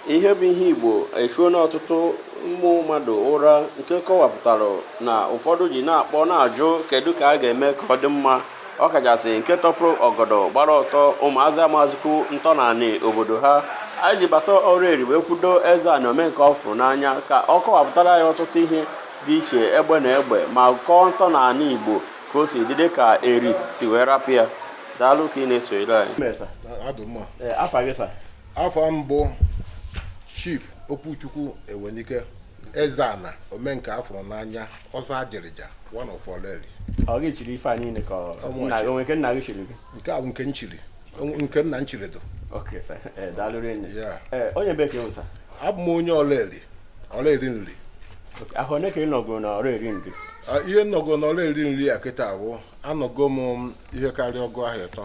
Ihe bụ ihe Igbo echuona ọtụtụ ụmụ mmadụ ụra nke kọwapụtara na ụfọdụ ji na-akpọ na-ajụ kedu ka a ga-eme ka ọ dị mma ọ kachasị nke tọpụrụ ọgọdọ gbara ọtọ ụmụazị amazikwu ntọnanị obodo ha anyị ji bata Ọraeri wee kwudo Ezeana ome nke a fụrụ n'anya ka ọ kọwapụtara anyị ọtụtụ ihe dị iche egbe na egbe ma kọọ ntọnanị Igbo ka o si dị dị ka Eri si wee rapụ ya daalụ ka ị na-esonyere anyị afa m bụ Chief Okwuchukwu Ewenike Ezeana ome nke a fụrụ n'anya ọzọ ajịrịja one of Ọlaeri ọ gị chiri ife a niile ka ọ- Ọ nna gị o nwe nke nna gị chiri gị nke a bụ nke m chiri nke nna m chiri dụ okay sir ee daalụ rinne Yeah. ee onye ebee ka ị wụ sir abụ m onye Ọlaeri Ọlaeri Nri ahọ one ka ị nọgoro na Ọraeri Nri Ah, ihe m nọgo na Ọlaeri Nri a kịta bụ anọgo m ihe karịa ọgụ ahọ ịtọ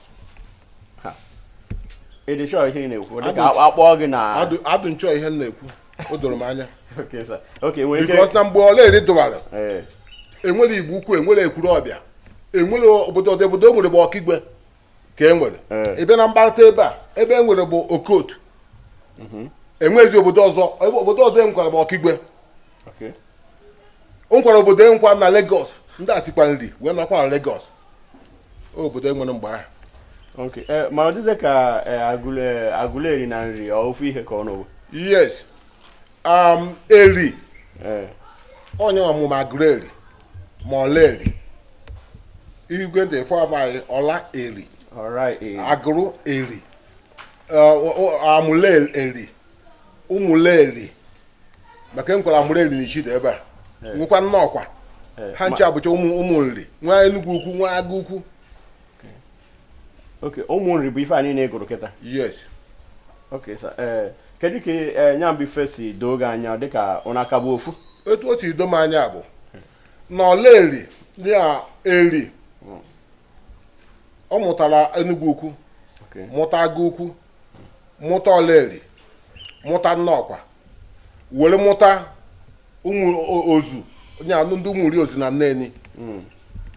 ị dị sure ihe ị na-ekwu dị ka a kpọọ gị na adụ m sure ihe m na-ekwu o doro m anya because na mgbe Ọlaeri dụwara eh. enwere Igbo Ukwu enwere Ekwuruọbịa enwere obodo ọdị obodo e nwere bụ Okigwe ka e nwere ị eh. bịa na mgbarịta ebe a ebe e nwere bụ Okotu mhm. enwezi obodo ọzọ obodo ọzọ enwekwara bụ Okigwe o nwekwara obodo e nwekwa na Lagos ndị a sikwa Nri wee nọkwa na Lagos obodo enwere mgbe ahụ Okay. Eh, ma ọ dịzị ka eh, Agụle eh, Agụleri na Nri ọ ofu ihe ka ụnụ wụ yes um, Eri Eh, ọ nya mụ ma Agụrụeri ma Ọlaeri i gee ntị ọfụma Ọlaeri Ọraeri Agụrụeri eh, ọ- ọ- Amụleri Ụmụleri maka enwekwara Amụrụeri n'Ichida ebe a nwekwa Nnọkwa ha ncha bụcha ụmụ ụmụ Nri nwee Enugwu Ukwu nwee Agụ Ukwu okay ụmụ Nri bụ ife a niine ị gụrụ kịta yes okay sir ee kedu ka ee nya bụ ife si doo gị anya dịka ụna aka bụ ofu etu o si do m anya bụ na Ọlaeri dị a Eri ọ mụtara Enugwu Ukwu okay mụta Agụ Ukwu mụta Ọlaeri mụta Nnọkwa were mụta ụmụ o- ozu onye anụ ndị ụmụ ri ozu na Nneni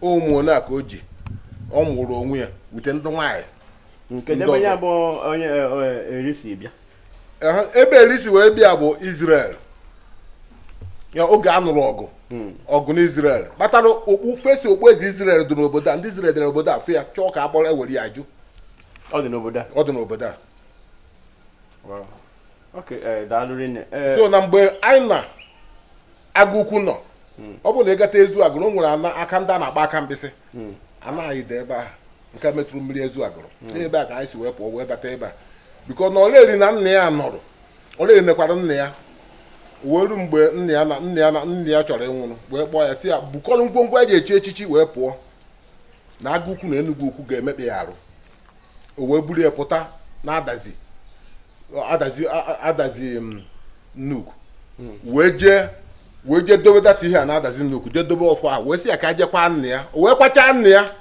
ụmụ ole a ka o ji ọ mụrụ onwe ya wute ndị nwaanyị kedụ ebe ya ọzọ. bụ onye e, e, Eri si bịa Ehe, ebe Eri si wee bịa bụ Israel ya oge a nụrụ ọgụ ọgụ n'Israel kpatara okpu first okpueze Israel dị n'obodo a ndị Israel bịara obodo a fụ ya chọọ ka a kpọrọ ewere ya jụ ọ dị n'obodo a ọ dị n'obodo a eh, so na mgbe anyị na agụ ukwu nọ hmm. ọ bụrụ na ị gata ezu agụrụ o nwere aka ndị a na-akpọ akamkpịsị hmm. ana anyị dị ebe ahụ nke metụrụ mmiri ezu agụrụ hmm. n'ebe a ka anyị si wee pụọ wee bata ebe a because na ọraeri na nna ya nọrọ ọraeri nekwara nna ya wee ru mgbe nna ya chọrọ ịnwụrụ wee kpọọ ya sị ya bukọrọ ngwongwo eji echi echichi wee pụọ na agụ ukwu na enugwu ukwu ga-emekpa ya arụ o wee buru ya pụta na adazi adazi adazi mm, nnukwu hmm. wee jee wee jee dobe that ihe a na adazi nnukwu jee dobe ọfọ a wee sị ya ka a je kwaa nna ya o wee kwachaa nna ya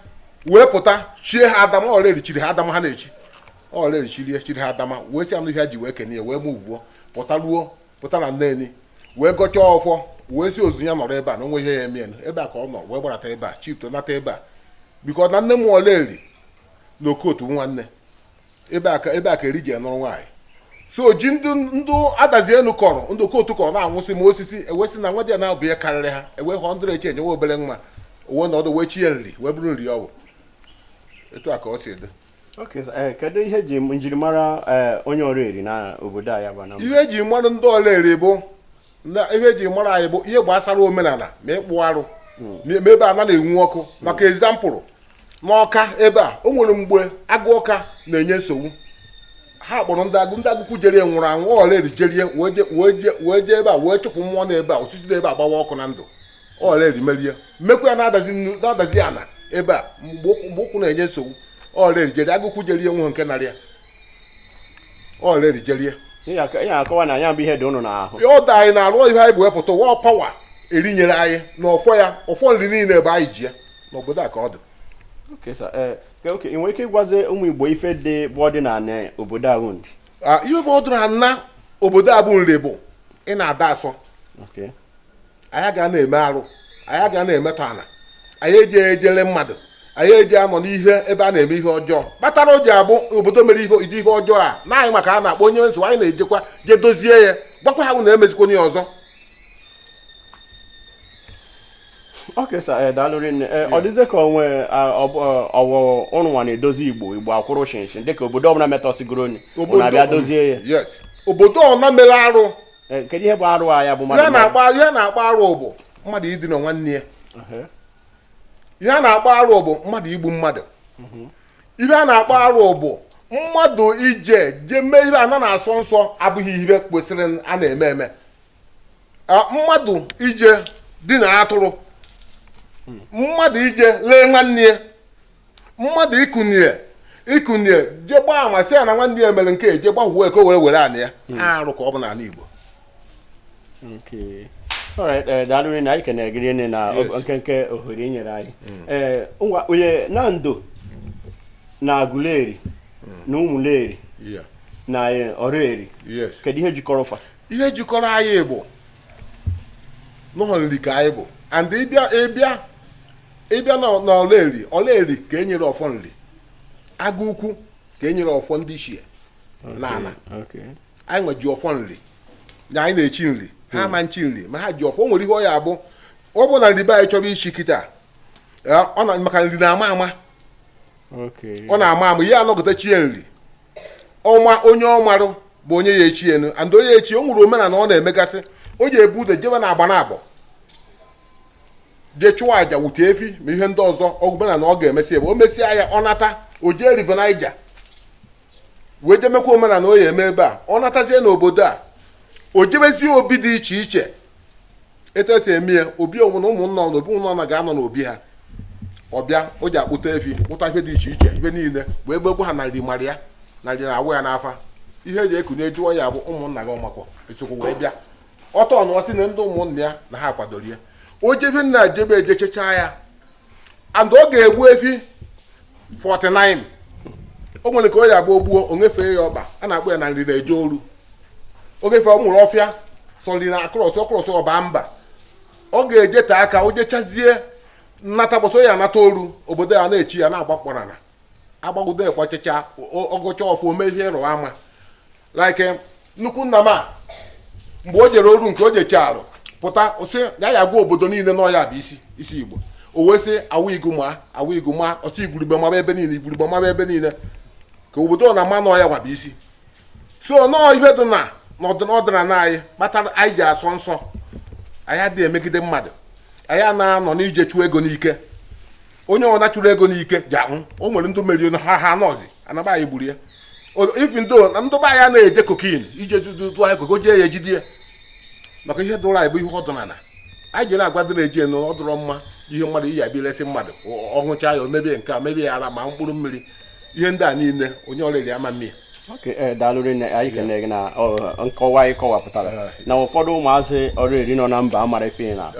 wee pụta chie ha adama ọraeri chiri ha adama ha na-echi ọraeri chiri ha adama wee sị anụ ihe ha ji wee kene ya wee mụvuo pụta ruo pụta na neni wee gọchaa ọfọ wee sị ozu ya nọrọ ebe a na o nwe ihe ya eme n'ebe a ka ọ nọ wee gbarata ebe a shift nata ebe a because na nne mụ ọraeri na okotu nwanne ebe a ka eri ji nụrụ nwaanyị so ji ndị adazi enu kọrọ ndị okotu kọrọ na-anwụsị ma osisi e wee sị na nwadịana bụ ya karịrị ha e wee hụ ndịrị eche enyewe obere nwa owe na ọdụ wee chi ya nri wee bụrụ nri ọ bụ etu a ka ọ si dị Eh, kedu ihe ji njirimara eh, onye ọraeri na obodo a ya bụ Anambra ihe e ji mara ndị ọraeri bụ na ihe e ji mara anyị bụ ihe gbasara omenala ma ịkpụ arụ hmm. ma ebe ana na-enwu ọkụ hmm. maka example n'ọka ebe a o nwere mgbe agụ ọka na-enye nsogbu ha kpọrọ ndị agụ ndị agụkwu jerie nwụrụ anwụ ọraeri jerie wee jee ebe a wee chụpụ mmụọ nọ ebe a osisi dị ebe a gbawa ọkụ na ndụ ọraeri meri ya e mekwa ya na adazi nnu na adazi ana ebe a mgbe ọkụ- mgbe ọkụ na-enye nsogbu ọraeri jeri agụkwu jeri ya nwe nke narị ya ọraeri jeri ya Ihe aka- ihe akọwa na ya bụ ihe dị ụnụ n'ahụ ya ọda anyị na-arụ ihe anyị bụ wepụta our power eri nyere anyị na ọfọ ya ọfọ nri niile ebe anyị ji ya n'obodo a ka ọ dị Okay, sir. Eh, okay, okay. ị nwere ike ịgwazi ụmụ igbo ife dị bụ ọdịnala obodo a unu Ah, ihe bụ ọdịnana obodo a bụ nri bụ ị na-adị asọ Okay. anyị ga na-eme arụ anyị ga na-emetọ ana anyị eji ejele mmadụ anyị eji anọ n'ihe ebe a na-eme ihe ọjọọ kpatara o ji abụ obodo mere ihe ọjọọ a na anyị nwa ka a na-akpọ onye nso anyị na-ejekwa je dozie ya gwakwa ha na emezikwana ọzọ Okay, sir. eh, daalụ rinne eh, ọ dịzie ka onwe ọ wụ ụnụ nwa na-edozi igbo igbo akwụrụ shinshin dịka obodo ọbụla metọsigoro onwe ụnụ abịa dozie ya obodo ọbụna mere arụ Eh, kedu ihe bụ arụ a ya bụ mmadụ ihe a na-akpọ arụ bụ mmadụ idina nwanne ya ihe a na-akpọ arụ bụ mmadụ igbu mmadụ mhm. ihe a na-akpọ arụ bụ mmadụ ije je mee ihe ana na-asọ nsọ abụghị ihe kwesịrị a na-eme eme mmadụ ije dina atụrụ hmm. mmadụ ije lee nwanne ya mmadụ ikunye ikunye je gbaa ama sị ya na nwanne ya mere nke a, je gbaghuo ya ka o were were anị ya Mm. arụ ka ọ bụ n'ala Igbo Okay. All right, eh, daalụ rinne anyị kenere gị rinne na Yes. ọ- nkenke ohere i nyere anyị Eh, ngwa onye Nando na aguleri na ụmụleri Yeah. na eh, Ọraeri yes kedu ihe jikọrọ fa ihe jikọrọ anyị bụ na ọọ nri ka anyị bụ and ịbịa ịbịa ịbịa na na Ọraeri Ọraeri ka e nyere ọfọ nri agụ ukwu ka e nyere ọfọ ndị ichie na ala Okay. anyị nwe ji ọfọ nri na anyị na-echi nri ha ma echi nri ma ha ji ọfọ o nwere ihe ọ ya abụ ọ bụ na nri be anyị chọrọ ichi kịta eh, ọ na maka nri na-ama ama Okay. ọ na-ama ama ihe anọgide chie nri ọ ma onye ọ marụ bụ onye ya echi ya nụ and onye echi o nwere omenala ọ na-emegasị o je ebu ụzọ jebe na Agbanabọ jee chụọ aja wute efi ma ihe ndị ọzọ omenala ọ ga-emesi ebe o mesịa ya ọ nata o jee River Niger wee jemekwa omenala o ya eme ebe a ọ natazie n'obodo a o jebezie obi dị iche iche etu esi eme ya obi onwe na ụmụnna na obi ụnọ ga-anọ n'obi ha ọ bịa o je akpụta efi kpụta ihe dị iche iche ihe niile wee gbegbu ha na nri mara ya na nri na-awụ ya n'afa ihe eji ekunye jụọ ya bụ ụmụnna gị ọ makwa esokwu wee bịa ọ tụọ ọnụ ọ sị na ndị ụmụnna ya na ha kwadoro ya o jebe nna jebe ejechechaa ya and ọ ga-egbu efi 49 o nwere ka o ya abụ o gbuo o nyefee ya ọba a na-akpọ ya na nri na-eje oru ọ ga-efe o nweru ọfịa sọ nri na-across ọ cross ọ ba mba ọ ga-ejete aka o jechazie nata mbọsị ọ ya anata oru obodo ya na-eche ya na-agba kpọrana agbagide ekwachacha ọ gọcha ọfọ o mee ihe ịrụ ama like eh, nnukwu nna m a mgbe o jere oru nke o jecharụ pụta sị ya ya gwa obodo niile na ọ ya bụ isi isi igbo o wee sị awa igu ma awa igu ma ọtụ igurube maba ebe niile igurube maba ebe niile ka obodo na ama na ọ ya nwa bụ isi so na ọọ ihe dị na n'ọdịnala anyị kpatara anyị ji asọ nsọ anyị adịghị emegide mmadụ anyị ana-anọ n'ije chụọ ego n'ike onye ọna chụrụ ego n'ike je anwụ o nwere ndị meriri ha ha nọzi na be anyị gburu ya even though na ndị be anyị na-eje cocaine ije tụọ ya koko jee ya ejide ya maka ihe dụrụ anyị bụ ihe ọdịnala anyị ji na-agwa ndị na-eje na ọ dụrọ mma ihe mmadụ ị ya abịa resi mmadụ ọ ṅụcha ya o mebie nke a mebie ya ara ma mkpụrụ mmiri ihe ndị a niile onye Ọraeri ama eme ya Eh, daalụ rinne anyị kene gị na nkọwa a ị kọwapụtara na ụfọdụ ụmụazị Ọraeri nọ na mba amara ife na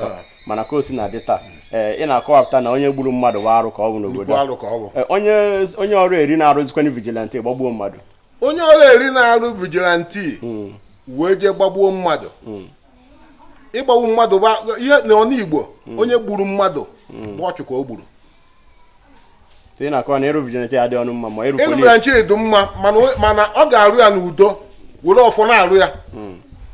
mana ka o si na-adị taa ee ị na-akọwapụta na onye gburu mmadụ bụ arụ ka ọ bụ n'obodo Nnukwu a. arụ ka ọ bụ Ee, onye onye Ọraeri na-arụzikwanụ vigilante gbagbuo mmadụ onye Ọraeri na-arụ vigilante wee jee gbagbuo mmadụ ịgbagbu mmadụ bụ ihe na ọnụ igbo onye gburu mmadụ bụ ọchụ ka o gburu ị na-akọwa na ịrụ vigilante adị ọnụ mma ma ịrụ ịlụ mere nche dị mma mana o- mana ọ ga-arụ ya n'udo were ọfọ na-arụ ya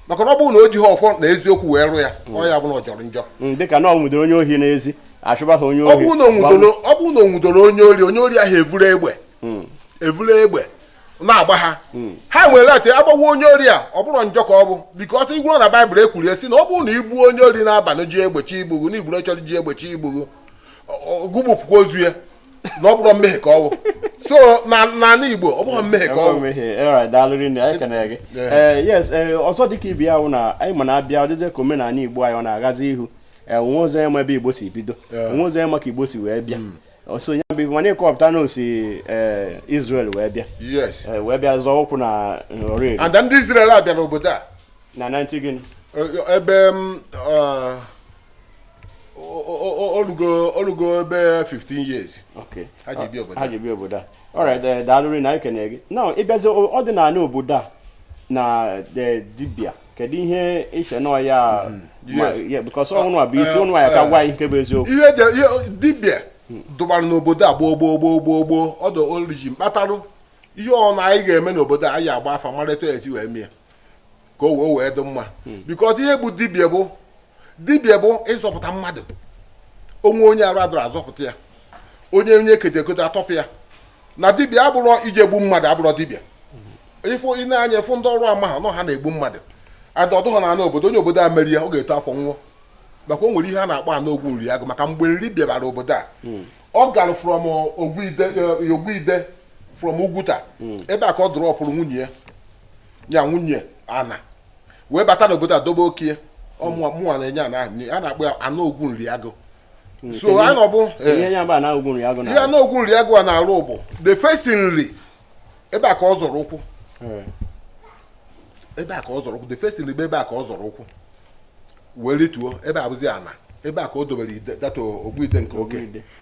maka na ọ bụrụ na o jighị ọfọ na eziokwu wee rụ ya ọ ya bụ na ọ jọrọ njọ Mm, dịka na ọ nwụdoro onye ohi n'ezi achụba ha onye ọ ohi bụrụ na o nwudoro ọ bụrụ na o nwudoro onye ori onye ori ahụ evuru egbe evuru egbe na-agba ha ha wee agbagbuo onye ori a ọ bụrọ njọ ka ọ bụ because ị gụrụ na baịbụl ekwurie sị na ọ bụrụ na i gbuo onye ori n'abalị ji egbe chi igbughu na igburu chọrọ ji egbe chi igbughu gụ bupụkwa ozu ya na ọ bụrọ mmehie ka ọ wụ so n'ala Igbo ọ bụrọ mmehie ka ọ wụ eh, yes eh, ọzọ dịka ibe ya wụ na anyị ma na-abịa ọ dịzị ka omenala Igbo anyị ọ na-agazi ihu eh, onwe ụzọ ya ma ebe Igbo si bido onwe ụzọ ya ma ka Igbo si wee bịa hmm. so ya bụ mana ịkọpụta na o si eh, Israel wee bịa eh, wee bịa zọọ ụkwụ na nri eh, and ndị Israel abịa n'obodo a na 19 gịnị ebe mm, o rugo ebe 15 years Okay. ha ji bịa obodo ha ji bịa obodo a alright eh, daalụ rinne anyị kenere gị now ị bịazie o- ọdịnala obodo a na eh, dibịa kedu ihe i che na ya ma- yes. yeah, because unuwa bụ isi Eh, unu ya-aka eh. gwa anyị nke bụ eziokwu ihe dị ihe dibịa dụbara n'obodo a gboo gboo gboo gboo gboo ọ dụ origin kpatarụ ihe ọbụna anyị ga-eme n'obodo a anyị agba afa mara etu e si wee mie ka o wee wee dị mma because ihe bụ dibịa bụ dibịa bụ ịzọpụta mmadụ o nwee onye arụ adụrọ a zọpụta ya onye onye e kete ekete a tọpụ ya na dibịa abụrọ ije gbu mmadụ abụrọ dibịa if i nee anya fụ ndị ọrụ a ma ha na ọ ha na-egbu mmadụ adụ- ọ dụhọ n'ana obodo onye obodo a meri ya ọ ga-eto afọ nwụọ maka o nwere ihe a na-akpọ ana ogwu nri agụ maka mgbe nri bịabara obodo a ọ gara from uh, ogbuide uh, ogbuide from ugwuta ebe a ka ọ dụrọpụrụ nwunye ya ya nwunye ana wee bata n'obodo a dobe oke ya ọ mụwa mụwa na-enye ana ahụ nri. a na-akpọ ya ana ogwu nri agụ so a na ọ bụ eh, ihe ya bụ ana ogwu nri agụ ihe na ana ogwu nri agụ a na-arụ bụ the first nri ebe a ka ọ zọrọ ụkwụ hmm. ebe a ka ọ zọrọ ụkwụ the first nri ebe a ka ọ zọrọ ụkwụ wee rituo ebe a bụzi ana ebe a ka o dobere ide that ogbuide nke oke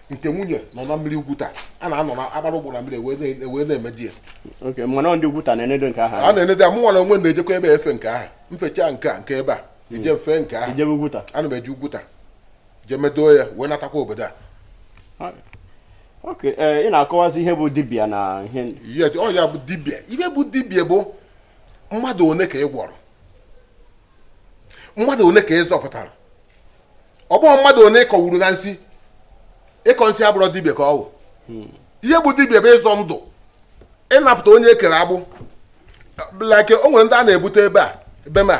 nke nwunye nọ na mmiri ugwuta a na-anọ na-agbara ụgbọ na mmiri wee na-emedo ya ndị ugwuta na-enedo nke ahụ a na-enedo mụnwa na onwe m na-ejekwa ebe efe nke ahụ m fechaa nke a nke ebe a ije hmm. m fee nke ahụ ana m eje ugwuta je medo ya wee natakwa obodo a Okay, eh, ị na-akọwazi ihe bụ dibịa na ihe yes ọ ya bụ dibịa ihe bụ dibịa bụ mmadụ one ka ị gwọrọ mmadụ one ka ị zọpụtara ọ bụghị mmadụ one ị kọgburu na nsị ịkọ nsị abụrọ dibịa ka ọ wụ ihe bụ dibịa bụ ịzọ ndụ ịnapụta onye e kere agbụ like o nwere ndị a na-ebute ebe a ebe m a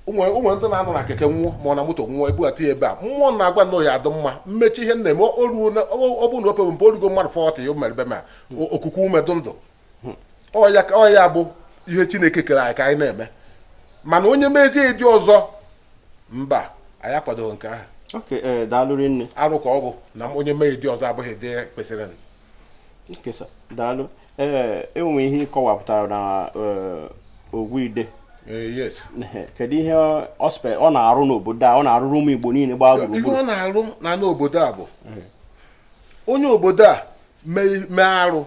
o nwere o nwere ndị na-anọ na keke nwụọ ma ọ na moto nwụọ ebugata ya ebe a mmụọ na-agwa na ya adị mma mmechi ihe na-eme o ruo na ọ bụrụ na o pebe mpe o rugo mmadụ forty ya o mere ebe m a o- okuku ume dụ ndụ ọ ya ka- ọ ya bụ ihe chineke kere anyị ka anyị na-eme mana onye mezie ụdị ọzọ mba anyị akwadoghị nke ahụ okay ee daalụ rinne arụ ka ọ bụ na onye mee ụdị ọzọ abụghị ụdị kwesịrịnụ. okay sir daalụ ee e nwe ihe ị kọwapụtara na ogwuide eh, kedu ihe ọspe ọ na-arụ n'obodo a ọ na-arụrụ ụmụ igbo niile gbaa gburugburu ihe ọ na-arụ na n'obodo a bụ eh. onye obodo a mee arụ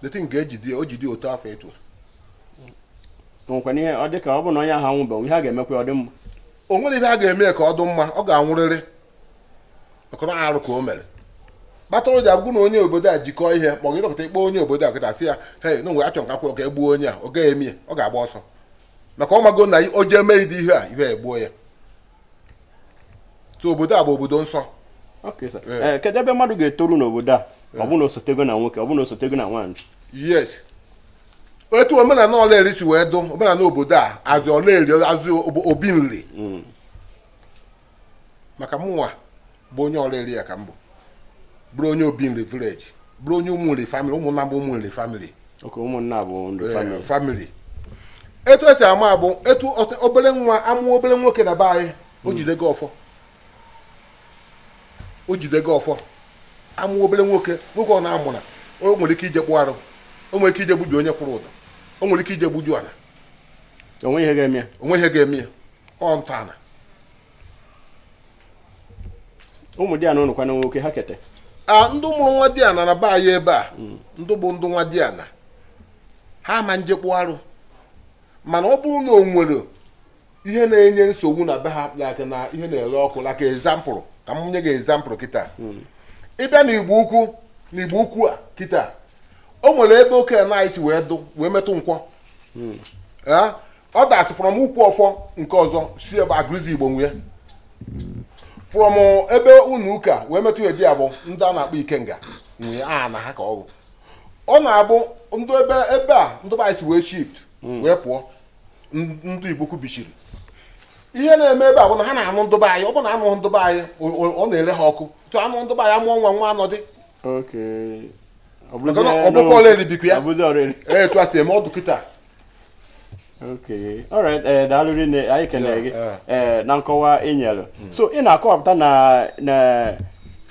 deity nke a ejide o jide otu afọ etu o nwekwana ihe ọ dị ka ọ bụ na onye ahụ anwụbeghị ihe a ga-emekwa ọ dị mma o nwere ihe a ga-eme ka ọ dị mma ọ ga-anwụrịrị ọ bụrụ arụ ka o mere kpatara m ji agwa gụ na onye obodo a jikọọ ihe ma ọ gị dọkịta ị kpọ onye obodo a kịta sị ya hei na nwere achọ nka kwụrụ ka e gbuo onye a ọ gaghị eme ya ọ ga-agba ọsọ maka ọ mago na o jee mee ụdị ihe a ihe a egbuo ya so obodo a bụ obodo nsọ Okay, sir. Yeah. Eh, kedu ebe mmadụ ga-etoru n'obodo a ọ bụ na o sotego na nwoke ọ bụ na o sotego na nwaanyị yes etu omenala ọlaeri si wee dụ omenala obodo a as ọlaeri as obo- obi nri maka mụnwa bụ onye ọraeri ya ka m bụ bụrụ onye obi nri village bụrụ onye ụmụ nri family ụmụnna bụ ụmụ nri family okay ụmụnna bụ nri family family etu e si ama bụ etu obere nwa amụọ obere nwoke na be anyị o hmm. jidego ọfọ o jidego ọfọ amụọ obere nwoke nwoke ọ na-amụna o nwere ike ije kpụ arụ o nwere ike ije gbubi onye kwụrụ ụdọ o nwere ike ije gbuju ala o nwe ihe ga-eme ya o nwe ihe ga-eme ya ọ ntọala ụmụ di ana ụnụkwana nwoke ha kete a ndị mụrụ nwa di ana na be anyị ebe a hmm. ndị bụ ndị nwa di ana ha ama nje kpụ arụ mana ọ bụrụ na o nwere ihe na-enye nsogbu na be ha like na ihe na-ere ọkụ like example ka m nye gị example kịta hmm. ị bịa na igbo ukwu na igbo ukwu a kịta o nwere ebe oke ana si wee dụ wee metụ nkwọ hmm. that is from ukwu ọfọ nke ọzọ si ebe agụzi igbo nwe from ebe ụnọ ụka wee metụ ndị a bụ ndị a na-akpọ ikenga nwe ana ha ka ọ bụ ọ na-abụ ndị ebe ebe a ndị be anyị si wee shift hmm. wee pụọ ndụ igbo ukwu bichiri ihe na-eme ebe a bụ na ha na-anụ ndụ be anyị ọ bụ na a nụ ndụ be anyị ọ na-ele ha ọkụ tụ a nụ ndụ be anyị amụọ nwa nwa anọdị ọ bụkwa ọlaeri bikwa ya etu a si eme ọ dụ kịta okay alright ee eh, daalụ rinne anyị kenere gị ee eh, na nkọwa ị nyere hmm. so ị na-akọwapụta na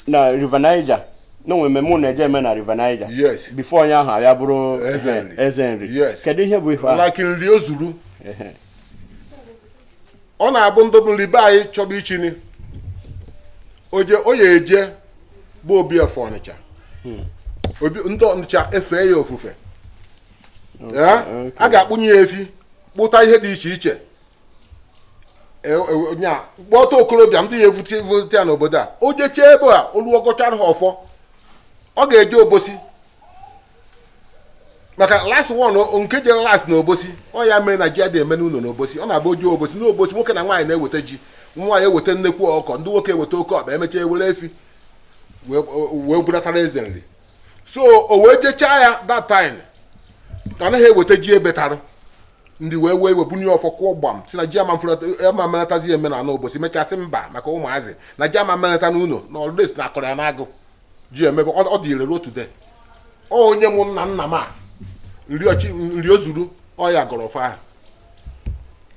na River Niger na o nwe mmemme unu eje eme na River Niger yes bifo onye ahụ abịa bụrụ Eze eh, nri. eze nri Yes. kedu ihe bụ ife ahụ like nri o zuru Ehe. ọ na-abụ ndị bụ nri be anyị chọba ichi ni o jee ọ ya eje be obi ofe ọnịcha obi ndị ọnịcha efee ya ofufe Ya, Okay. a ga-akpụnye ya efi kpụta ihe dị iche iche E, e, nya kpọta okorobịa ndị ya evute vute ya n'obodo a o jechee ebe a o luo gọchara ha ọfọ ọ ga-eje obosi maka last one o- nke jere last na obosi ọ ya mere na ji adịghị eme n'ụlọ n'obosi ọ na-abụ o jee obosi n'obosi nwoke na nwaanyị na-eweta ji nwaanyị eweta nnekwu ọkụkọ ndị nwoke eweta oke ọkpa emechaa ewere efi wee wee bulatara eze nri so o wee jechaa ya that time a naghị eweta ji ebetara ndị wee wee wee bunye ọfọ kụọ gbam sị na ji ama mfụlata- ama melatazi eme na obosi mechaa sị mba maka ụmụazị na ji ama melata n'ụlọ na ọlụdes na a kọrọ ya n'agụ ji emebe ọ ọ dị ire ruo today ọ onye mụ nna nna m a nri ọchị nri o zuru ọ ya gọrọ ọfọ ahụ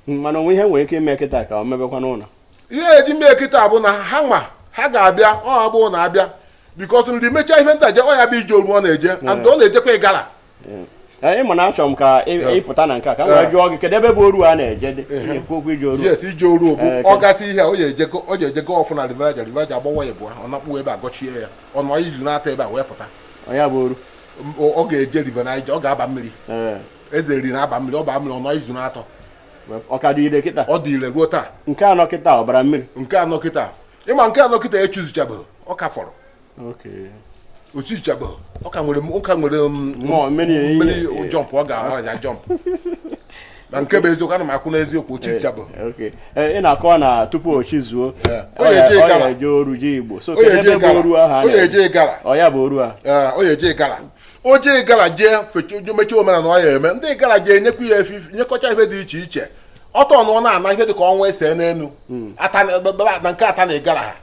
mana o nwe ihe nwere ike ime kịta ka ọ mebekwa n'ụlọ ihe e ji mee kịta bụ na ha nwa ha ga-abịa ọ bụ na abịa bikos nri mechaa ihe ntaje ọ ya bụ ije oru ọ na-eje and ọ na-ejekwa ịgara ị ma na achọrọ m ka ị pụta na nke a ka m wee jụọ gị kedu ebe bụ oru a na-eje dị ekwu okwu ije oru yes ije oru bụ ọ gasị ihe o ji eje gọ ọfọ na River Niger River Niger agbawa ya bụ ọ na-akpụ ebe a gọchie ya ọ nọ izu na-atọ ebe a wee pụta ya bụ oru ọ ga-eje River Niger ọ ga-aba mmiri eze nri na-aba mmiri ọ baa mmiri ọ nọ izu na-atọ ọ ka dị ire kịta ọ dị ire ruo taa nke a nọ kịta ọ bara mmiri nke a nọ kịta ị ma nke a nọ kịta echizuchabeghị ọ ka fọrọ o chichabeghị ọ ka nwere ọ ka nwere um, mmiri jọmpụ ọ ga-ahụ aja jọmpụ na nke bụ eziokwu ana m ekwu n'eziokwu o chichabeghị eh, ị na-akọwa na tupu o chizuo o jee oru ji igbo so kedu ebe bụ oru ahụ ọ ya eje igara ọ ya bụ oru a ọ ya eje igara o jee igara jee fecha mechaa omenala ọ ya eme ndị igara jee nyekwa ya efi nyekọcha ife dị iche iche ọtọ nọ na-ana ihe dịka ọnwa ese n'elu hmm. na nke Ata na ịgara ha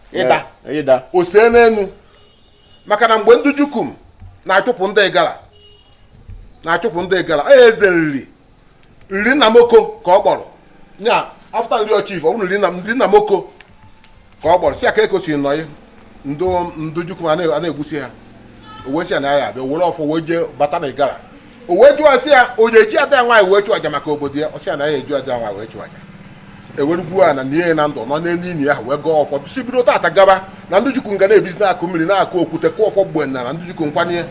ịda o see n'elu maka na mgbe ndị jukum na-achụpụ ndị ịgara na-achụpụ ndị ịgara onye eze nri nri Nnamoko ka ọ kpọrọ nya afta nri ọchif ọ bụrụ nri Nnamoko ka ọ kpọrọ sị aka ekosi nọ ya ndị ndị jukum a na-egbusi ha o wee sị ya na ya abịa were ọfọ wee jee bata na igara o wee jụọ sị ya o ji ada ya nwaanyị wee chụ aja maka obodo ya ọ sị ya na ya eji ada ya nwaanyị wee chụ aja e were gwuo ana nie ya na ndụ nọ n'elu ini ahụ wee gọọ ọfọ sị bido tata gaba na ndị jukum ga na-ebizi n'akụkụ mmiri n'akụkụ okwute kụọ ọfọ gbam na na ndị jukum nkwanye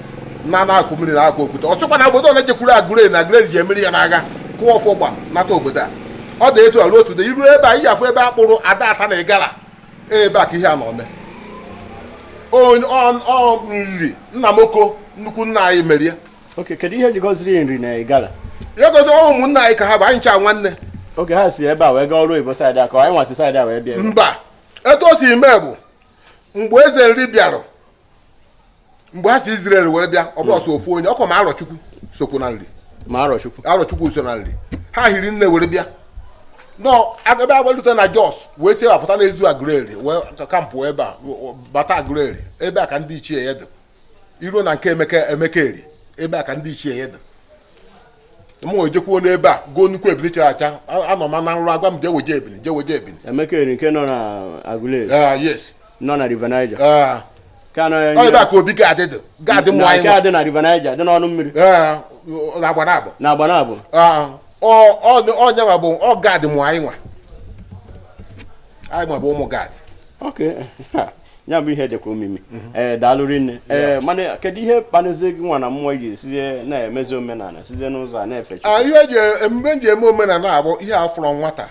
na n'akụkụ mmiri n'akụkụ okwute ọ sịkwa na obodo ole jekwuru agụre na agụre ji emeri ya n'agha kụọ ọfọ gba nata obodo a ọ dị etu arụ otu dị iru ebe a ihe afụ ebe a kpụrụ ada Ata na Ịgara ebe a ka ihe a nọ mee Nri Nnamoko nnukwu nna anyị merie oke kedu ihe jikọziri Nri na Ịgara ya gozi ụmụnna anyị ka ha bụ anyị ncha nwanne oge ha si ebe a wee gaa ọrụ oyibo saịdị a ka anyị nwasị saịdị a wee bịa mba etu o si mee bụ mgbe eze Nri bịara mgbe ha si Izrel were bịa ọ bụrọ sọ ofu onye ọkwa ma Arọchukwu sokwu na Nri ma Arọchukwu so na Nri ha hiri nne were bịa nọ ebe agbalute na Jos wee si apụta n'Ezu Aguleri wee kampụ ebe a bata Aguleri ebe a ka ndị ichie ya dị i ruo na nke Emeka Eri ebe a ka ndị ichie ya dị m wee jekwuo n'ebe a goo nnukwu ebili chara acha anọ m na nrọ a gwa m jee weje ebili jee weje ebili Emeka Eri nke nọ na Aguleri ah, yes nọ na River Niger ah. ọ ebe a ka obi Gad dị Gad mụ anyị nwa dị na River Niger dị n'ọnụ mmiri ah, na Agbanabọ ọ ya nwa bụ ọ Gad mụ anyị nwa anyị nwa bụ ụmụ Gad ya bụ ihe dịkwa omimi mhm. ee eh, daalụ rinne ee eh, mana kedu ihe kpanizi gị nwa na mmụọ i ji sizie na-emezi omenala sizie n'ụzọ a na-efe ah, ihe eji e, emume m ji eme omenala a bụ ihe a fụrụ nwata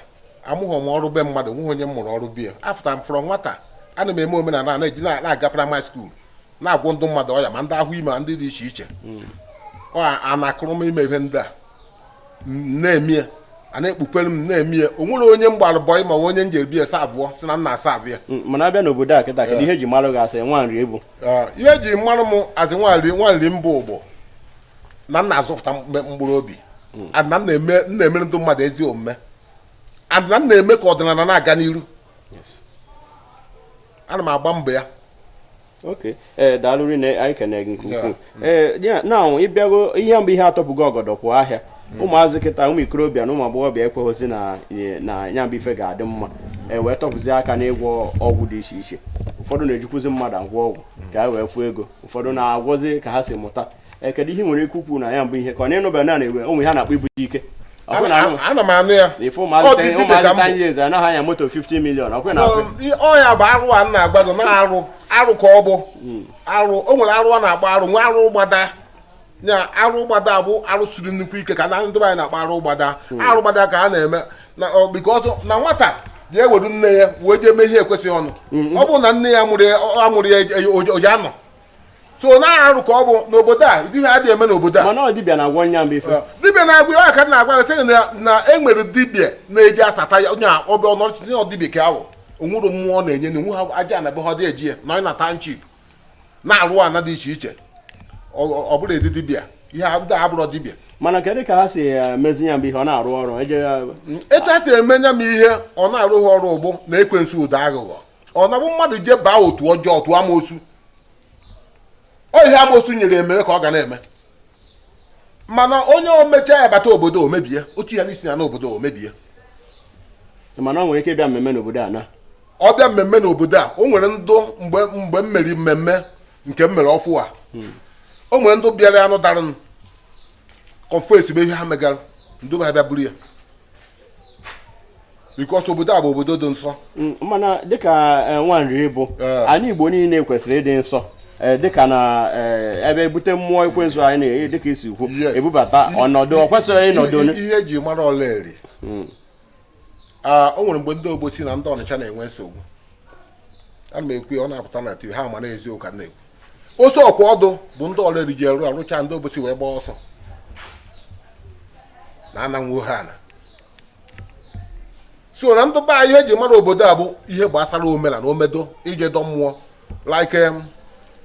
amụghị m ọrụ be mmadụ nweghị onye m mụrụ ọrụ be ya afụta m fụrụ nwata ana m eme omenala na-eji na-aga primary school na-agwọ ndị mmadụ ọya ma ndị ahụ ime ndị dị iche iche mm. ọ a na-akụrụ m ime ihe ndị a na-eme ya a na-ekpukwere m na-eme ya o nwere onye m gbara bọị ma nwee onye m jere be ya saavụọ si na nna asa abịa Mm, mana a bịa n'obodo a kịta kedu ihe e ji marụ gị as nwa Nri ị bụ Ee, ihe e ji marụ m as nwa Nri m bụ bụ na m na-azọpụta mkpe- mkpụrụ obi and na m na-eme na-emere ndị mmadụ ezi omume and na m na-eme ka ọdịnala na-aga n'iru ana m agba mbọ ya oke ee eh, daalụ rinne anyị kene gị nke ukwuu ee eh, na ị bịago ya bụ ihe atọpụgo ọgọdọ kwụ ahịa hmm. ụmụazị kịta ụmụ ikorobịa na ụmụ agbọghọbịa ekweghịzi na nya bụ ife ga-adị mma e wee tọpụzi aka n'ịgwọ ọgwụ dị iche iche ụfọdụ na-ejikwuzi mmadụ agwọ ọgwụ hmm. ka e wee fụọ ego ụfọdụ na-agwọzi ka ha si mụta Eh, kedu ihe i nwere ike ikwu na ya bụ ihe ka ọ na-anụba na na-ewe onwe ha na-akpọ ibute ike ana m anụ ya ife ụmụazịta years anaghị anya moto 50 million ọ kwa na ọ ya bụ arụ a na-agba gị na arụ arụ ka ọ bụ hmm. arụ o nwere arụ a na-agba arụ nwee arụ gbada ya arụ gbada bụ arụ siri nnukwu ike ka na ndị anyị na-akpọ arụ gbada hmm. arụ gbada ka a na-eme na because na nwata ji eweru nne ya wee jee mee ihe ekwesịghị ọnụ hmm, ọ bụrụ na nne ya mụrụ ya oji anọ so na arụ ka ọ bụ n'obodo a ụdị ihe adịghị eme n'obodo a mana ọ dibịa na-agwọ nya mgbe ife dibịa na-agwọ ya ka na-agwa gị sịrị na e nwere dibịa na-eji asata ya onye ọbụ ọnọchịchị na dibịa ka ahụ onwere mmụọ na-enye na onwe ha aja na be ha dị eji ya na onye na township na-arụ ana dị iche iche ọ bụrọ ezi dibịa ihe ndị a abụrọ dibịa mana kedu ka ha si eh, mezi ya mgbe ihe ọ na-arụ ọrụ etu ha si eme nya m ihe ọ na-arụ ha ọrụ ọ bụ na ekwensu dị aghụghọ ọ na-abụ mmadụ je baa otu ọjọọ otu amoosu ọ ihe amoosu nyere ya mee ka ọ ga na-eme mana onye o mecha ya bata obodo o mebie otu ya n'isi ya n'obodo o mebie ị ma na ọ nwere ike ịbịa mmemme n'obodo a na ọ bịa mmemme n'obodo a o nwere ndụ mgbe mgbe m mere mmemme nke m mere ọfụụ a o nwere ndụ bịara anụ dara m confess bụ ihe ha megara ndụ ha bịa buru ya because obodo a bụ obodo dị nsọ mm, mana dịka eh, nwa Nri bụ eh. anyị Igbo niile kwesịrị ịdị nsọ Eh, dịka na eh, ebe e bute mmụọ ekwensu anyị na-enye dịka i si kwu e bubata ọnọdụ ọ kwesịghị ịnọdụ ihe e ji mara Ọlaeri hmm. ah, o nwere mgbe ndị Obosi na ndị Ọnịcha na-enwe nsogbu ana m ekwu ya ọ na-apụta na tv ha ma na eziokwu ka m na-ekwu oso ọkwa ọdụ bụ ndị Ọraeri ji rụọ a rụcha ndị Obosi wee gbaa ọsọ na ananwụ ha ana so na ndị be anyị ihe e ji mara obodo a bụ ihe gbasara omenana omedo ije dọ mmụọ like em,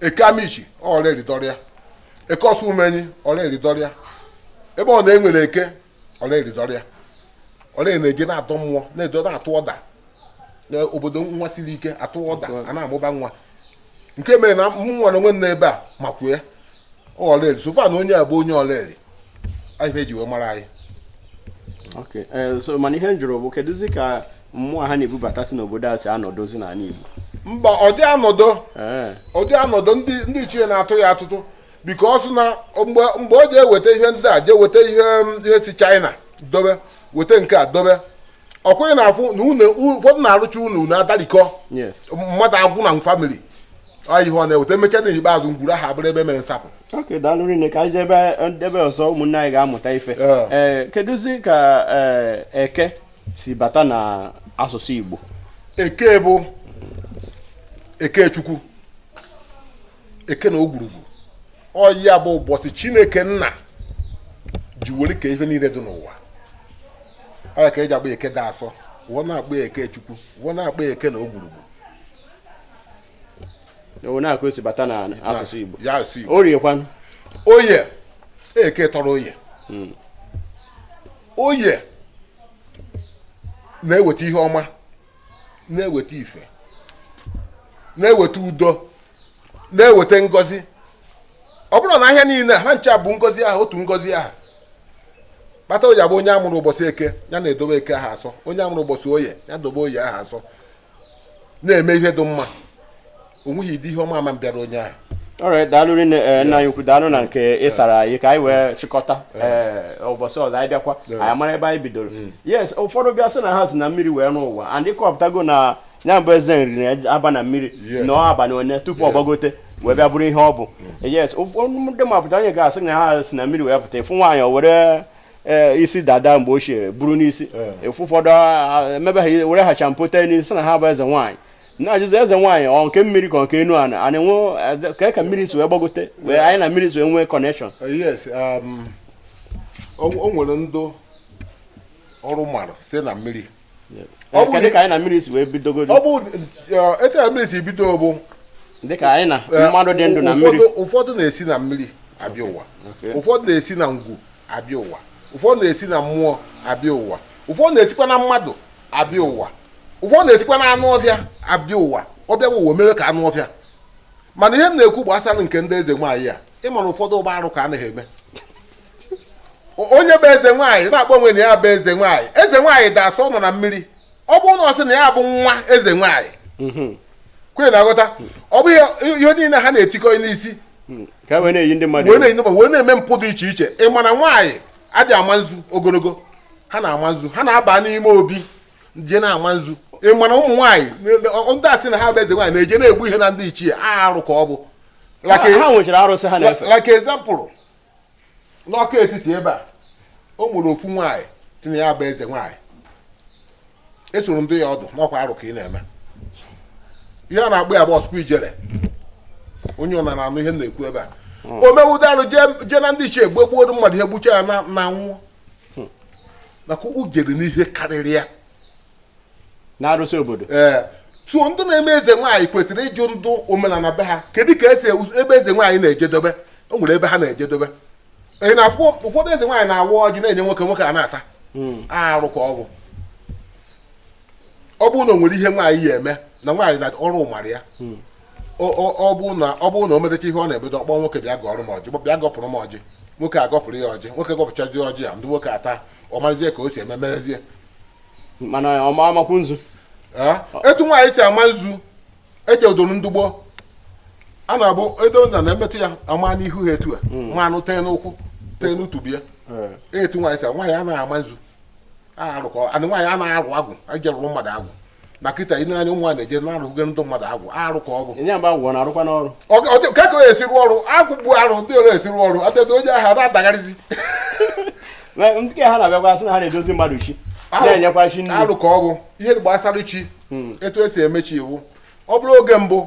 Eke Amichi Ọraeri dọrọ ya Eke Osumenyi Ọraeri dọrọ ya ebe ọ na e nwere Eke Ọraeri dọrọ ya Ọraeri na-eje na-adọ mmụọ na-eje na-atụ ọda n'obodo nwa siri ike a tụọ ọda a na-amụba nwa nke mere na mmụọ na onwe nna ebe a makwu ya Ọraeri so far na onye a bụ onye Ọraeri ọ ihe e ji wee mara anyị eh, so mana ihe m jụrụ bụ kedụzi ka mmụọ ha na-ebubata si n'obodo a si anọdụzi n'ala Igbo mba ọ dị anọdụ eh. ọ dị anọdụ ndị ichie na-atụ ya atụtụ because na mgbe mgbe o ji eweta ihe ndị a jee weta ihe um, ihe si China dobe weta nke a dobe ọ kwa ị na-afụ na ụnọ ụfọdụ na a rụcha ụnọ ụnọ adarikọ Yes. mmadụ agwụ na family ọ ihe ọ na-eweta e mecha na ikpeazụ ngwuru ahụ abụrụ ebe e mere nsapụ okay daalụ rinne ka anyị jebe n'ebe ọzọ ụmụnne anyị ga-amụta ife Yeah. ee kedụzi ka ee, eke si bata na asụsụ Igbo Eke bụ Eke Chukwu eke na ogwurugwu ọ ya bụ ụbọchị Chineke nna ji were kee ihe niile dị n'ụwa ọ ya ka e ji akpọ Eke dị asọ wee na-akpọ Eke Chukwu wee na-akpọ eke na ogwurugwu ọ ya ka o si bata na asụsụ Igbo ya asụ Igbo Orie kwanụ oye eke tọrọ oye hmm. oye na-eweta ihe ọma na-eweta ife na-eweta udo na-eweta ngọzi ọ bụrụ na ahịa niile ha ncha bụ ngọzi ahụ otu ngọzi ahụ kpata o ji abụ onye a mụrụ ụbọchị eke ya na-edobe eke ahụ asọ onye a mụrụ ụbọchị oye ya dobe oye ahụ asọ na-eme ihe dị mma o nweghị ụdị ihe ọma ama abịara onye ahụ ọ ya daalụ rinne ee, nna anyị ukwu daalụ na nke ị sara anyị ka anyị wee chịkọta ee, ụbọchị ọzọ anyị bịakwa Yeah. anyị mara ebe anyị bidoro yes ụfọdụ bịa sị na ha si na mmiri wee lọ ụwa and ị kọpụtago na ya bụ eze nri na-aba na mmiri Yes. nọọ abalị one tupu ọ gbagote wee bịa bụrụ ihe ọ bụ yes ụfọdụ ndị mapụta onye ga-asị na ha si na mmiri wee pụta ị fụ nwaanyị o were ee, isi dada mgbe ochie buru n'isi Yeah. ị fụ ụfọdụ ah, emebe ha were ha shampoo tee n'isi sị na ha bụ eze nwaanyị na-ajụzị eze nwaanyị ọ nke mmiri ka nke enu ana ana enwe kee ka mmiri si wee gbagote wee anyị na mmiri si wee nwee connection uh, yes um, o nwere ndụ ọrụ mara site na mmiri kedụ ka anyị na mmiri si wee bidogodo ọ bụ uh, etu na mmiri si bido bụ dịka anyị na uh, mmadụ dị ndụ na mmiri ụfọdụ na-esi na mmiri abịa ụwa ụfọdụ na-esi na ngwu abịa ụwa ụfọdụ na-esi na mmụọ abịa ụwa ụfọdụ na-esikwa na mmadụ abịa ụwa ụfọdụ na-esikwa na anụ ọfịa abịa ụwa ọ bịa ụwa mee ka anụ ọfịa mana ihe m na-ekwu gbasara nke ndị eze nwaanyị a ị mara ụfọdụ ugbu a arụ ka ha na-eme onye bụ eze nwaanyị na-akpọ onwe na ya bụ eze nwaanyị eze nwaanyị dị asọ nọ na mmiri ọ bụrụ na ọ sị na ya bụ nwa eze nwaanyị mhm. kwenye na-aghọta ọ bụghị ihe niile ha na-etikọ n'isi hmm. wee na-eyi ndị mmadụ wee na-eme mpụ dị iche iche ị ma na nwaanyị adị ama nzu ogologo ha na-ama nzu ha na-aba n'ime obi je na-ama nzu ị ma na ụmụ nwaanyị ndị a sị na ha bụ eze nwaanyị na-eje na-egbu ihe na ndị ichie arụ ka ọ bụ like e- example n'ọka etiti ebe a o nwere ofu nwaanyị sị na ya bụ eze nwaanyị esoro m dụ ya ọdụ na ọ kwa arụ ka ị na-eme ihe a na-akpọ ya bụ ọsụkwa ijele onye ọ na-anụ ihe na-ekwu ebe a hmm. o mewuda arụ jee na ndị ichie gbe gbuo mmadụ ihe gbucha ya anwụọ hmm. maka o jere n'ihe karịrị ya n'arụsị obodo ee so ndị na-eme eze nwaanyị kwesịrị ịjụ ndụ omenala be ha kedu ka e si eme eze nwaanyị na-ejedobe o nwere ebe ha na-ejedobe ị na-afụ ụfọdụ eze nwaanyị na-awa ọjị na-enye nwoke nwoke a na-ata hmm. arụ ka ọ bụ ọ bụrụ na o nwere ihe nwaanyị ya-eme na nwaanyị na ọrụ mara ya hmm. ọ bụrụ na ọ bụrụ na o metecha ihe ọ na-ebedo ọ kpọọ nwoke bịa gọọrọ m ọjị bịa gọpụrụ m ọjị nwoke agọpụrụ ya ọjị nwoke gọpụchazi ọjị a ndị nwoke ata ọ marazie ka o si eme merezie mana ọ ma amakwu nzu etu nwaanyị si ama nzu eche udoro ndị gboo a na-abụ edo ha na-emetụ ya ama n'ihu ha etu a hmm. ma ọ bụ tee n'ụkwụ tee n'otubo ya eh. etu nwaanyị si nwaanyị anaghị ama nzu arụ ka ọ bụ nwaanyị anaghị agọ agwụ eje rụọrọ mmadụ agwụ na kịta ị na-anya ụmụ nwaanyị na-eje na-arụghe ndị mmadụ agwụ arụ ka ọ bụ ka ka esi rụọ ọrụ agwụ bụ arụ ndị ole esi rụọ ọrụ abịazi onye ahụ na-adagharịzi nke ha na-abịakwa sị na ha na-edozi mmadụ chi na-enyekwa chi nri arụ ka ọ bụ ihe gbasara chi hmm. etu esi eme chi ihe bụ ọ bụrụ oge mbụ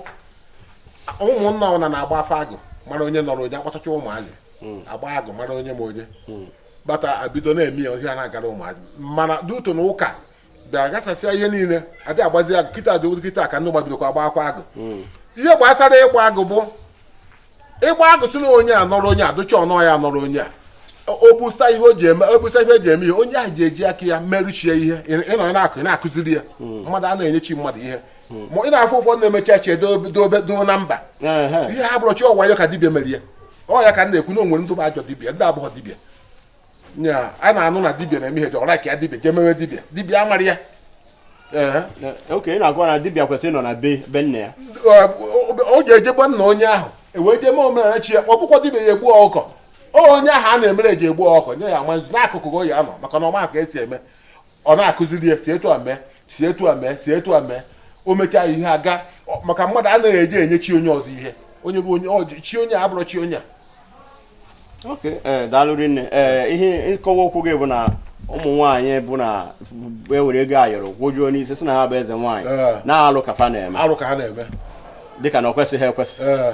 ụmụnna ọbụna na-agba afa agụ mara onye nọrọ onye akpọtacha ụmụazị hmm. agba agụ mara onye ma onye hmm. bata abido na-eme ya ihe a na-agara ụmụazị mana due to na ụka bịa ghasasịa ihe niile adị agbazi agụ kịta dị ụdị kịta ka ndị gbabidokwa agbakwa agụ hmm. ihe gbasara ịgba agụ bụ ịgba agụ si na onye a nọrọ onye a dụcha ọnọ ya nọrọ onye a obusa ihe o ji eme obusa ihe eji eme ihe onye ahụ ji eji aka ya meere chi ya ihe ị nọ na-akụ na-akụziri ya hmm. mmadụ a na-enye chi mmadụ ihe hmm. ma ị na-afụ ụfọdụ na-eme chi eche dobe doo na mba ihe ahụ abụrọ chi ọwa ya ka dibia mere ya ọ ya ka m na-ekwu na o nwere ndị bụ ajọ dibia ndị abụghọ dibia nya a na-anụ na dibia na-eme ihe dị ọra ka ya dibia jee mewe dibia dibia amara ya ee okay ị na-agwa na dibia kwesịrị ịnọ na be be nna ya Ọ- ọ- ọ ga-eje be nna onye ahụ ewee jee mee omenala chi ya ma ọ bụkwa dibia ya egbu ọkụkọ Ọ onye ahụ a na-emere eji egbu ọkụkọ nye ya ama nzu n'akụkụ ka o ya anọ maka na ọ ma ka esi eme ọ na-akụziri ya si etu a mee si etu a mee si etu a mee o mechaa ihe aga ọ- maka mmadụ anaghị eji enye chi onye ọzọ ihe onye bụ onye ọ ji- chi onye a abụrọ chi onye a ok ee daalụ rinne ee ihe nkọwa okwu gị bụ na ụmụ nwaanyị bụ na-ewere ego ayọrọ gwojuo n'isi sị na ha bụ eze nwaanyị Ee. na alụ ka fa na-eme arụ ka ha na-eme dịka na ọ kwesịghị ekwesị ee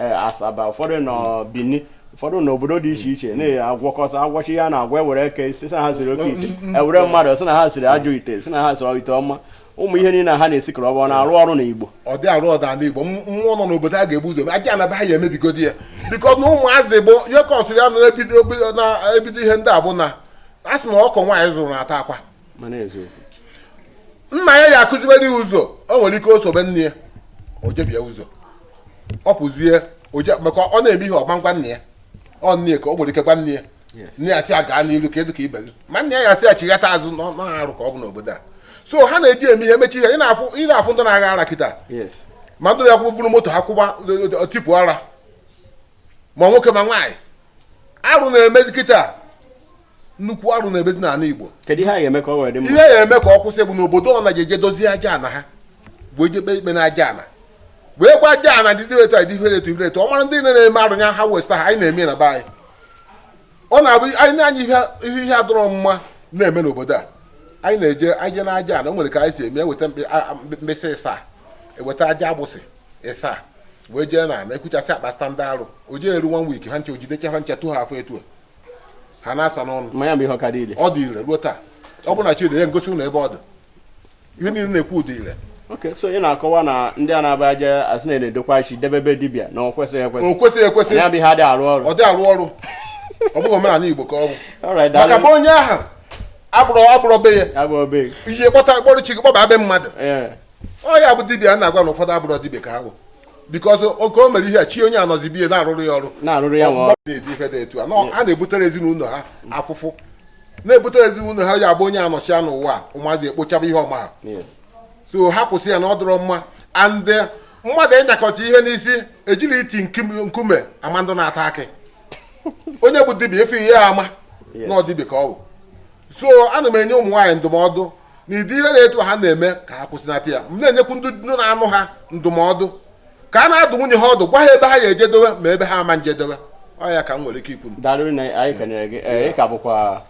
eh, Asaba ụfọdụ nọ Bini ụfọdụ nọ obodo dị iche iche na-agwọkọta agwọchi ya na agwa ewere eke sị na ha siri oke ite mm, mm, mm. ewere mmadụ sị na ha siri ajọ ite sị na ha siri ite ọma ụmụ ihe niile ha na-esikọrọ ọ bụ na-arụ ọrụ na Igbo ọ dị arụ ọda ala Igbo mmụọ nọ n'obodo a ga-ebu ụzọ aja ana be ha ya emebigodi ya because na ụmụazị bụ ihe kọsịrị ya na-ebido ihe ndị a bụ na a sị na ọkụkọ nwaanyị zụrụ na-ata akwa nna ya ya akụzibere ya ụzọ o nwere ike o sobe nne ya o jebie ụzọ ọ pụzie maka ọ na-eme ihe ọ ma agwa nna ya ọ nne ka o nwere ike gwa nne ya nne ya sị ya gaa n'iru ka ị dị ka ibe gị ma nna ya ya asị ya chighata azụ na arụ ka ọ bụ n'obodo a so ha na-eji eme ihe mee chi ihe ị na-afụ ndị na-agha ara kịta ma ndị na-akwụ vụrụ moto ha kwụba tipụ ara ma nwoke ma nwaanyị arụ na-emezi kịta nnukwu arụ na-emezi n'ala Igbo kedu ihe a ga-eme ka ọ wee dị mma ihe ya eme ka ọ kwụsị bụ n'obodo ọbụna eje dozie aja ana ha bụ eje kpee ikpe na aja ana wee gwa aja ana dị dịrị etu a dị ihe na-etu ibe etu ọ mara ndị niile na-eme arụ ya ha westa ha anyị na-eme na be anyị ọ na-abụ anyị na-anya ihe ihe ihe adịrọ mma na-eme n'obodo a anyị na-eje anyị je na aja ana o nwere ka anyị si eme eweta mkpị- a- a- mkpị- mkpịsị ịsaa eweta aja agbụsị ịsaa wee jee na ana ekwuchasị akpa standa arụ o jee eru one week ha ncha o jidecha ha ncha tụ ha afọ etu a ha na-asa n'ọnụ mmanya bụ ihe ọ ka dị ire ọ dị ire ruo taa ọ bụ na chi dị ya ngosi ụlọ ebe ọ dị ihe niile na-ekwu ọ dị ire okay so ị na-akọwa na ndị a na-aba aja asị na na-edokwa chi debe be dibịa na o kwesịghị ekwesị o kwesịghị ekwesị ya bụ ihe adịghị arụ ọrụ ọ dị arụ ọrụ ọ bụghị omenala igbo ka ọ bụ Alright, maka daalụ. bụ onye ahụ agbụrụ agbụrụ be ya ya bụ obe ihe kpọta kpọrọ chi gị kpọba be mmadụ ee ọ ya bụ dibịa a na-agwa na ụfọdụ abụrọ dibịa ka ha bụ because oke o mere ihe a chi onye anọzi be ya na-arụrụ ya ọrụ na-arụrụ ya ọrụ ife dị etu a a na-ebutere ezinụlọ ha afụfụ na-ebutere ezinụlọ ha ya bụ onye anọchia n'ụwa ụmụazị ekpochaba ihe ọma so ha kwụsị ya na ọ dịrọ mma and eh, mmadụ ịnyakọta ihe n'isi ejirọ iti nkume ama ndị na-ata akị onye bụ dibịa ị fụ ya ama na ọ dibịa ka ọ bụ so ana m enye ụmụ nwaanyị ndụmọdụ n'ụdị ihe na etu ha na-eme ka ha kwụsịnata ya m na-enyekwu ndị na-anụ ha ndụmọdụ ka ha na-adụ nwunye ha ọdụ gwa ha ebe ha ya ejedowe ma ebe ha ama ejedowe ọ ya ka m nwere ike ikwu Alright, ọ ka bụkwa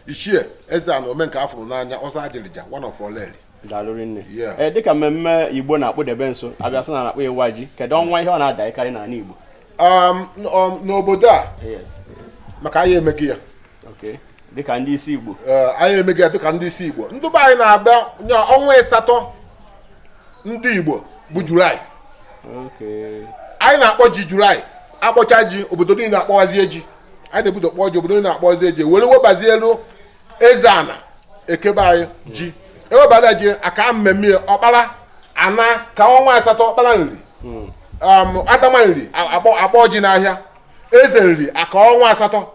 Ichie Ezeana ome nke a fụrụ n'anya ọzọ Ajịrịja one of Oraeri daalụ rinne eh, dịka mmemme igbo na-akpụdebe nso a bịa sị na a na-akpọ ịwa ji kedu ọnwa ihe ọ na-adakarị n'ala igbo um, um, n'obodo a maka anyị emeghe ya dịka ndị isi Igbo anyị emeghe ya dịka ndị isi Igbo ndị be anyị na-abanye ọnwa ịsatọ ndị Igbo bụ Julaị anyị na-akpọ ji Julaị akpọcha ji obodo niile akpọwazie ji anyị na-ebudo kpọọ ji obodo niile akpọwazie ji were webazielu Ezeana nke be anyị ji ewebara ji akaa mmemme ọkpara ana kaa ọnwa asatọ ọkpara Nri hmm. um, Adama Nri akpọ ji n'ahịa eze Nri akaa ọnwa asatọ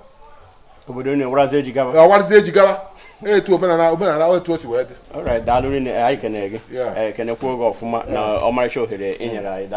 obodo niile warazie ji gaba warazie ji gaba etu omenala omenala etu o si wee dị alright daalụ rinne anyị kenere gị Yeah. eh, kenekwuo gị ọfụma na ọmarịcha ohere ị nyere anyị daalụ